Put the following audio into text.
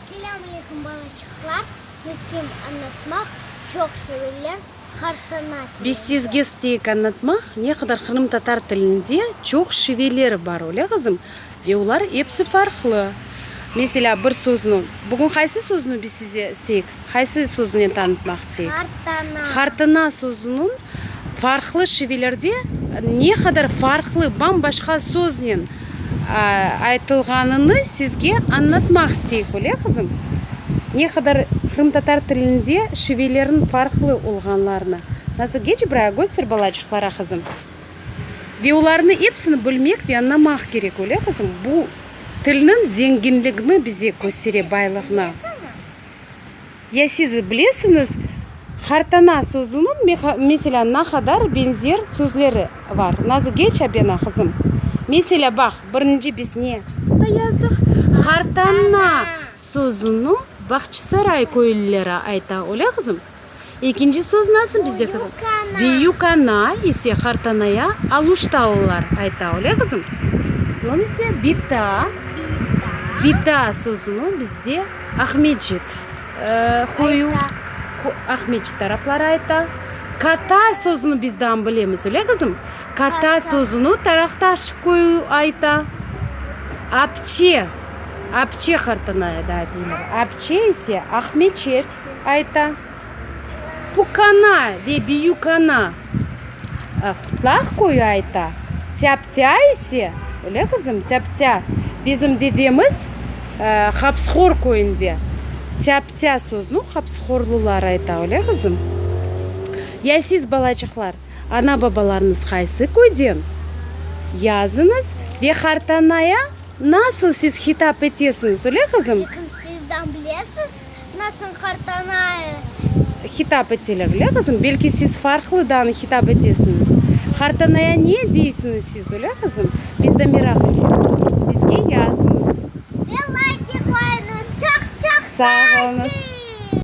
Selam aleykum balaçıqlar, mesem anlatmaq, çoq sevirler, qartana tilinde. Biz sizge isteyik anlatmaq, ne qadar qırımtatar tilinde çoq şiveler bar, öyle qızım? Ve olar epsi farqlı. Meselâ, bir söznü, bugün qaysı söznü biz size isteyik? Qaysı sözünen tanıtmaq isteyik? Hartana. Hartana sözüniñ farqlı şivelerde ne qadar farqlı, bam-başqa söznen aytılğanını sizge añlatmaq isteyik, öyle, qızım? Ne qadar qırımtatar tilinde şivelerniñ farqlı olğanlarını. Nasıl? Geç buraya, köster balacıqlara, qızım. Ve olarnı epsini bilmek ve añlamaq kerek, öyle, qızım? Bu tilniñ zenginligini bize köstere, baylıqnı. Ya siz bilesiñiz, Hartana sözüniñ, meselâ, na qadar beñzer sözleri bar? Nazı geç abena, qızım. Meselâ, baq, birinci biz ne aqta yazdıq? Hartana sözüniñ Bağçasaray köylüleri ayta, öyle, qızım? Ekinci söz nasıl bizde qızım? Büyük ana ise qartanaya aluştalılar ayta, öyle qızım? Soñ ise bita, bita sözüni bizde Aqmescit köyü, Aqmescit tarafları ayta. Kata sözüni biz dam bilemiz, öyle qızım? Kata sözüni Taraqtaş köyü ayta. Apçe, apçe qartanaya da deyler. Apçe ise Aqmeçet. ayta. Pukana ve Büyükana Qutlaq köyü ayta. Tâptâ ise, öyle qızım? Tâptâ bizim dedemiz Hapsqor köyünde tâptâ sözüni hapsqorlular ayta, öyle qızım? Ya siz, balacıqlar, ana-babalarıñız qaysı köyden? Yazıñız ve qartanaya nasıl siz hitap etesiñiz, öyle qızım? Lâkin sizden bilesiz? Nasıl hartanaya? Hitap eteler, öyle qızım? Belki siz farqlıdan hitap etesiñiz. Hartanaya ne deysiñiz siz, öyle qızım? Biz de meraq etemiz. Bizge yazıñız. Ve layki qoyuñız. Çoq-çoq sağ olunız.